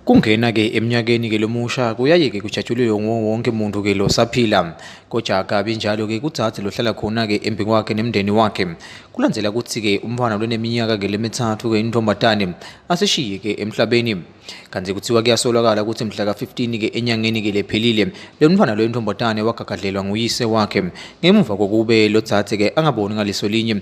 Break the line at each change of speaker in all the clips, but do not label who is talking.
Kungena ke eminyakeni ke lomusha kuyaye ke kujatshulwe wonke umuntu ke lo saphila kodwa kabi njalo ke kudzadze lohlala khona ke embi kwakhe nemndeni wakhe kulandzela ukuthi ke umfana loneminyaka ke lemithathu ke intombazane asishiye ke emhlabeni kanti kuthiwa kuyasolakala ukuthi mhla ka-15 ke enyangeni ke lephelile lo mfana lo intombazane wagagadlelwa nguyise wakhe ngemuva kokube lo dzadze ke angaboni ngaliso linye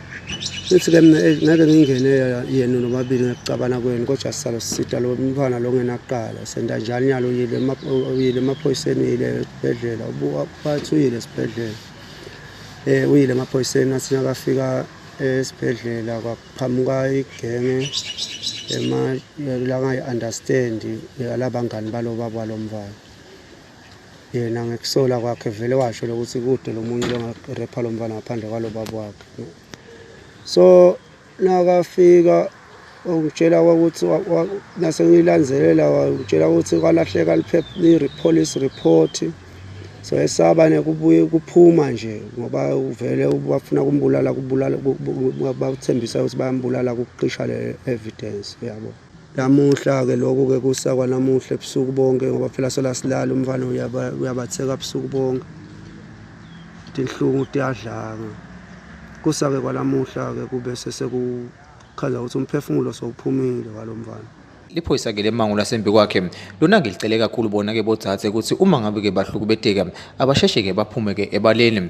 Futhi-ke mina eh, ngeke ngingene yena nobabili ngekucabana kwenu kodwa sisalo sisita lo mntwana lo ngenaqala senda njani yalo uyile uyile emaphoyiseni uyile esibhedlela bathi uyile esibhedlela um uyile emaphoyiseni athi nakafika esibhedlela kwaqhamuka igenge langayi-understandi eh, alabangani balo baba lo mfana yena ngekusola kwakhe vele washo lokuthi kude lomunye longarepha lo mfana ngaphandle kwalo baba wakhe so nakafika ungitshela ukuthi nase ngilanzelela wangitshela ukuthi kwalahleka liphepha-police report so esaba nekubuye kuphuma nje ngoba uvele bafuna kumbulala kubulala bathembisa ukuthi bayambulala kuqisha le evidence yabo Namuhla-ke lokhu-ke kusa kwanamuhla ebusuku bonke ngoba phela solasilala umfana uyabatheka ebusuku bonke tinhlungu tiyadlanga kusa-ke kwanamuhla-ke kube sesekuchaza ukuthi umphefumulo sowuphumile walo mfana liphoyisa-ke
lemango lasembi kwakhe lona-ke licele kakhulu bona-ke bodzadze ukuthi uma ngabe-ke bahlukubeteka abasheshe-ke baphume-ke ebaleni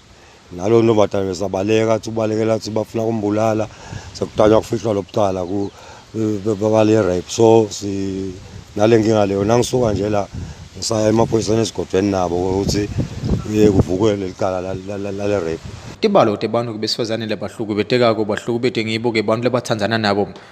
nalo ntombazane besabaleka athi ubalekela athi bafuna kumbulala sekutanywa kufihlwa lobucala babale rape so si nale nkinga leyo nangisuka nje la ngisaya emaphoyiseni esigodweni nabo ukuthi kuvukwe leli cala lale rape tibalo tebantu
besifazane labahlukubetekako bahlukubetengibo-ke bantu labatsandzana nabo